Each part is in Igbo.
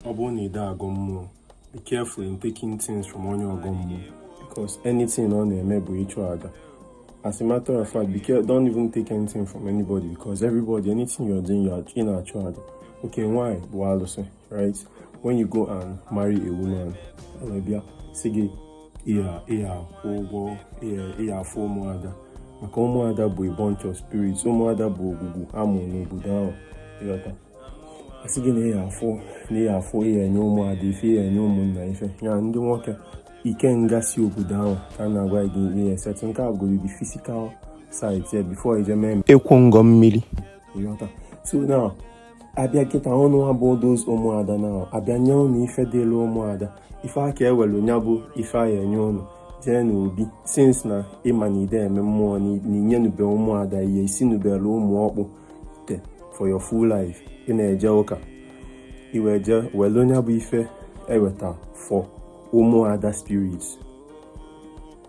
ọ bụrụ na ide agọ mmụọ be careful in taking things from onye ọgọ mmụọ because anything ọ na-eme bụ ịchụ aja as a matter of fact be careful don't even take anything from anybody because everybody anything you're doing you're ị na-achụ aja okay nwaanyị bụ alụsị right when you go and marry a woman ọ na-abịa sị gị ị ya-akwụ ụgwọ ịya afọ ụmụada maka ụmụada bụ a bunch of spirits ụmụada bụ ogwugwu a mụ n'obodo ahụ ị ghọta a sị gị na ihe afụ na ihe afụ ị ya-enye ụmụada ife ị ya-enye ụmụnna ife ya ndị nwoke ikenga si obodo ahụ ka a na-agwa gị ị ya-esettle nke a gụrụ gị physical side ya before i je mee ịkwụ ngọ mmiri ị ghọta so na abịa kịta ụnụ abụọ those ụmụada na abịa nye ụnụ ife dịlụ ụmụada ife aka ewelu nya bụ ife ahụ e nye ụnụ jee n'obi since na ị ma na ide eme mmụọ na inyenube ụmụada ihe isinubelu ụmụ ọkpụ te for your full life ị na-eje ụka i wee je welu nya bụ ife e weta for ụmụada spirit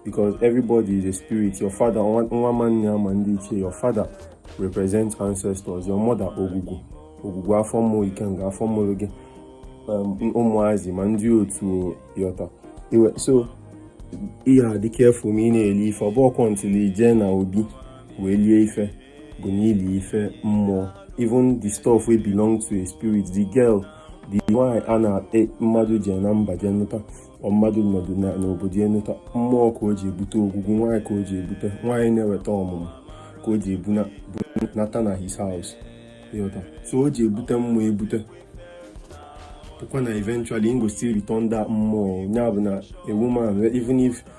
because everybody is a spirit your father nwa ma nne ya ma ndị ichie your father represent ancestors your mother ogwugwu ogwugwu afọ mụrụ ikenga afọ mụrụ gị Um, ụmụazị ma ndị otu ị ghọta so ị ya-adị careful ma ị na-eli ife ọ bụkwọ until i je na obi wee lie ife go na-eli ife mmụọ even the stuff wey belong to a spirit the girl the nwanyị a na-akpe mmadụ je na mba je nụta mmadụ nọdụ n'obodo ya nụta mmụọ ka o ji ebute ogwugwu nwaanyị ka o ji ebute nwaanyị na-eweta ọmụmụ ka o ji ebunata na his house ị ghọta so o ji ebute mmụọ ebute bụkwa na eventually im go still return that mmụọ ya bụ na a woman even if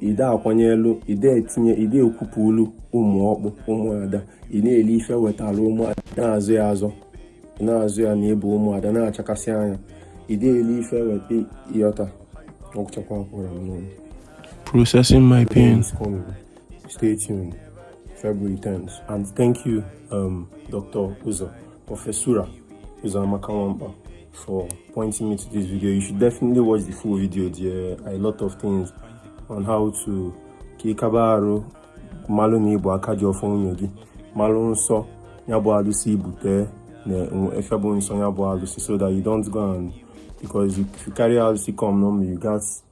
ide akwanyelu ide etinye ide ekwupụlụ ụmụ ọkpụ ụmụada ị na-eli ife e wetara ụmụada na-azụ ya azụ na-azụ ya na ị bụ ụmụada na-achakasị anya ide eli ife e weta ị ghọta ọ gwụchakwa akwụrụ m n'ụlọ processing my pain stay tuned February 10th and thank you um, Dr. Uzo Professora Uzoamaka Nwankpa for pointing me to this video. You should definitely watch the full video. There are a lot of things on how to kikabaru malụ na ị bụ aka ji ọfọ nwunye gị malụ nsọ ya bụ alụsị i bute na ife bụ nsọ ya bụ alụsị so that you don't go and because if you carry alụsị come normally you gats